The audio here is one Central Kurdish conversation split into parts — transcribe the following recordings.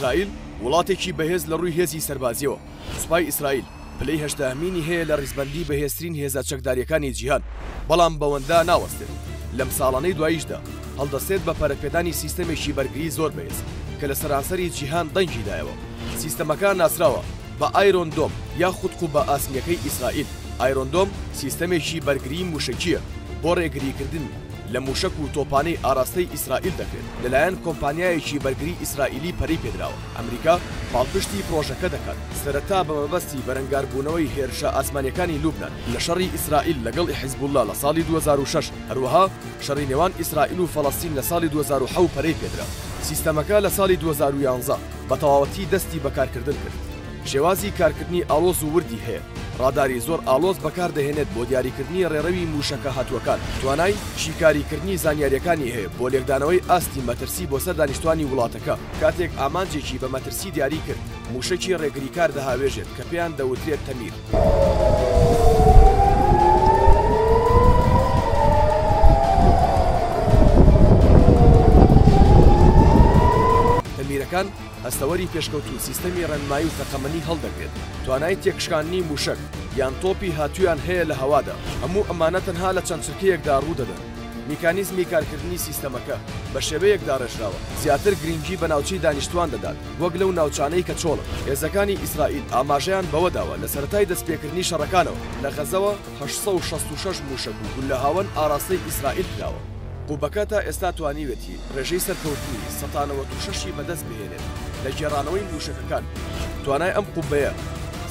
ئیسرائیل وڵاتێکی بەهێز لە ڕووی هێزی سەربازیەوە سوپای ئیسرائیل پلەی هەشتاهەمینی هەیە لە ڕیزبەندی بەهێزترین هێزە چەکداریەکانی جیهان بەڵام بەوەندا ناوەستێت لەم ساڵانەی دواییشدا هەڵدەستێت بە پەرەپێدانی سیستەمێکی بەرگری زۆر بەهێز کە لە سەرانسەری جیهان دەنگی دایەوە سیستەمەکە ناسراوە بە ئایرۆن دۆم یاخود قوبە ئاسنییەکەی ئیسرائیل، ئایرۆن دۆم سیستەمێکی بەرگریی مووشەکییە بۆ ڕێگریکردن لە مووشەک و تۆپانەی ئاراستەی ئیسرائیل دەکرێت، لەلایەن کۆمپانیایەکی بەرگریی ئیسرائیلی پەرەی پێدراوە، ئەمریکا پاڵپشتی پڕۆژەکە دەکات، سەرەتا بە مەبەستی بەرەنگاربوونەوەی هێرشە ئاسمانییەکانی لوبنان لە شەڕی ئیسرائیل لەگەڵ حیزبوڵڵا لە ساڵی دوو هەزار و شەش، هەروەها شەڕی نێوان ئیسرائیل و فەڵەستین لە ساڵی دوو هەزار و حەوت پەرەی پێدرا، سیستەمەکە لە ساڵی دوو هەزار و یانزە. بە تەواوەتی دەستی بە کارکردن کرد. شێوازی کارکردنی ئاڵۆز و وردی هەیە، ڕاداری زۆر ئاڵۆز بەکاردەهێنێت بۆ دیاریکردنی ڕێڕەوی مووشەکە هاتووەکان، توانای شیکاریکردنی زانیارییەکانی هەیە بۆ لێکدانەوەی ئاستی مەترسی بۆ سەر دانیشتوانی وڵاتەکە. کاتێک ئامانجێکی بە مەترسی دیاری کرد، مووشەکی ڕێگریکار دەهاوێژێت کە پێیان دەوترێت تەمیر. میرەکان، هەستەوەری پێشکەوتوو سیستەمی ڕێنمایی و تەقەمەنی هەڵدەگرێت، توانای تێکشکاندنی مووشەک یان تۆپی هاتوویان هەیە لە هەوادا، هەموو ئەمانە تەنها لە چەند چرکەیەکدا ڕوودەدەن. میکانیزمی کارکردنی سیستەمەکە بە شێوەیەک داڕێژراوە زیاتر گرنگی بە ناوچەی دانیشتوان دەدات، وەک لەو ناوچانەی کە چۆڵن. هێزەکانی ئیسرائیل ئاماژەیان بەوە داوە لە سەرەتای دەستپێکردنی شەڕەکانەوە لە غەزەوە هەشت سەد و شەست و شەش مووشەک و گوللە هاوەن ئاراستەی ئیسرائیل کراوە. قوبەکە تا ئێستا توانیویەتی ڕێژەی سەرکەوتنی سەتا نەوەد و شەش ی بەدەست بهێنێت لە گێڕانەوەی مووشەکەکان. توانای ئەم قوبەیە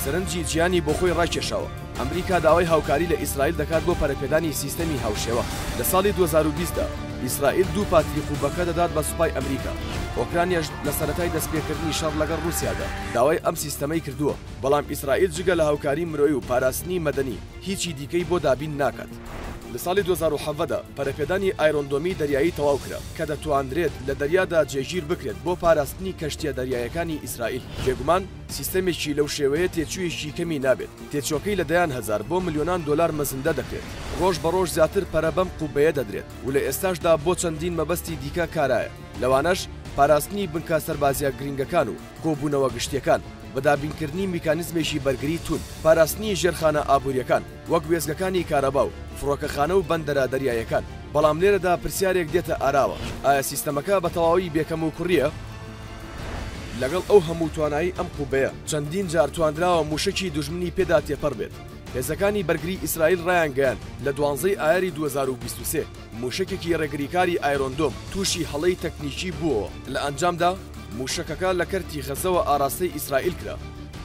سەرنجی جیهانی بۆخۆی ڕاکێشاوە. ئەمریکا داوای هاوکاری لە ئیسرائیل دەکات بۆ پەرەپێدانی سیستەمی هاوشێوە، لە ساڵی دوو هەزار و بیست دا ئیسرائیل دوو پاتری قوبەکە دەدات بە سوپای ئەمریکا، ئۆکرانیاش لە سەرەتای دەستپێکردنی شەڕ لەگەڵ ڕووسیادا داوای ئەم سیستەمەی کردووە، بەڵام ئیسرائیل جگە لە هاوکاری مرۆیی و پاراستنی مەدەنی هیچی دیکەی بۆ دابین ناکات. لە ساڵی دوو هەزار و حەڤدە دا پەرەپێدانی ئایرۆن دۆمی دەریایی تەواو کرا، کە دەتوانرێت لە دەریادا جێگیر بکرێت بۆ پاراستنی کەشتییە دەریاییەکانی ئیسرائیل، بێگومان، سیستەمێکی لەو شێوەیە تێچوویەکی کەمی نابێت، تێچووەکەی لە دەیان هەزار بۆ ملیۆنان دۆلار مەزندە دەکرێت، ڕۆژ بە ڕۆژ زیاتر پەرە بەم قوبەیە دەدرێت و لە ئێستاشدا بۆ چەندین مەبەستی دیکە کارایە، لەوانەش پاراستنی بنکە سەربازییە گرنگەکان و کۆبوونەوە گشتییەکان، بە دابینکردنی میکانیزمێکی بەرگری توند، پاراستنی ژێرخانە ئابوورییەکان وەک وێستگەکانی کارەبا و فڕۆکەخانە و بەندەرە دەریاییەکان، بەڵام لێرەدا پرسیارێک دێتە ئاراوە، ئایا سیستەمەکە بە تەواوی بێ کەموکوڕییە؟ لەگەڵ ئەو هەموو توانایی ئەم قوبەیە، چەندین جار توانراوە مووشەکی دوژمنی پێدا تێپەڕ بێت. هێزەکانی بەرگری ئیسرائیل رایانگەیاند، لە دوانزەی ئایاری دوو هەزار و بیست و سێ مووشەکێکی رێگریکاری ئایرۆن دۆم تووشی هەڵەی تەکنیکی بووەوە، لە ئەنجامدا مووشەکەکە لە کەرتی غەزەوە ئاراستەی ئیسرائیل کرا.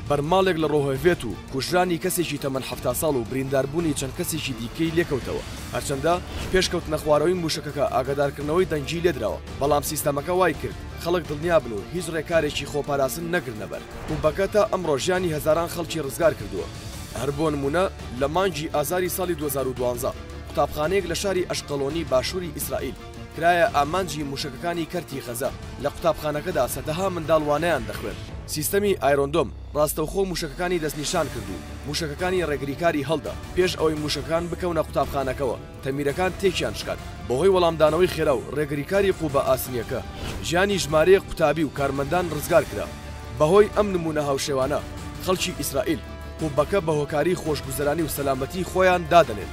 بەرماڵێک لە رۆهڤێت و کوژرانی کەسێکی تەمەن حەفتا ساڵ و برینداربوونی چەند کەسێکی دیکەی لێکەوتەوە، هەرچەندە پێش کەوتنەخوارەوەی مووشەکەکە ئاگادارکردنەوەی دەنگی لێدراوە، بەڵام سیستەمەکە وایکرد خەڵک دڵنیا بن و هیچ ڕێکارێکی خۆپاراستن نەگرنە بەر، پمپەکە تا ئەمڕۆ ژیانی هەزاران خەڵکی ڕزگار کردووە، هەر بۆ نموونە لە مانگی ئازاری ساڵی دوو هەزار و دوازدە قوتابخانەیەک لە شاری ئەشقەڵۆنی باشووری ئیسرائیل کرایە ئامانجی مووشەکەکانی کەرتی غەزە، لە قوتابخانەکەدا سەدەها منداڵ وانەیان دەخوێند. سیستەمی ئایرۆن دۆم ڕاستەوخۆ مووشەکەکانی دەستنیشان کرد و مووشەکەکانی ڕێگریکاری هەڵدا پێش ئەوەی مووشەکەکان بکەونە قوتابخانەکەوە. تەمیرەکان تێکیان شکان بەهۆی وەڵامدانەوەی خێرا و ڕێگریکاری قوبە ئاسنییەکە ژیانی ژمارەیەک قوتابی و کارمەندان ڕزگار کرا. بەهۆی ئەم نموونە هاوشێوانە خەڵکی ئیسرائیل قوبەکە بە هۆکاری خۆشگوزەرانی و سەلامەتیی خۆیان دادەنێن.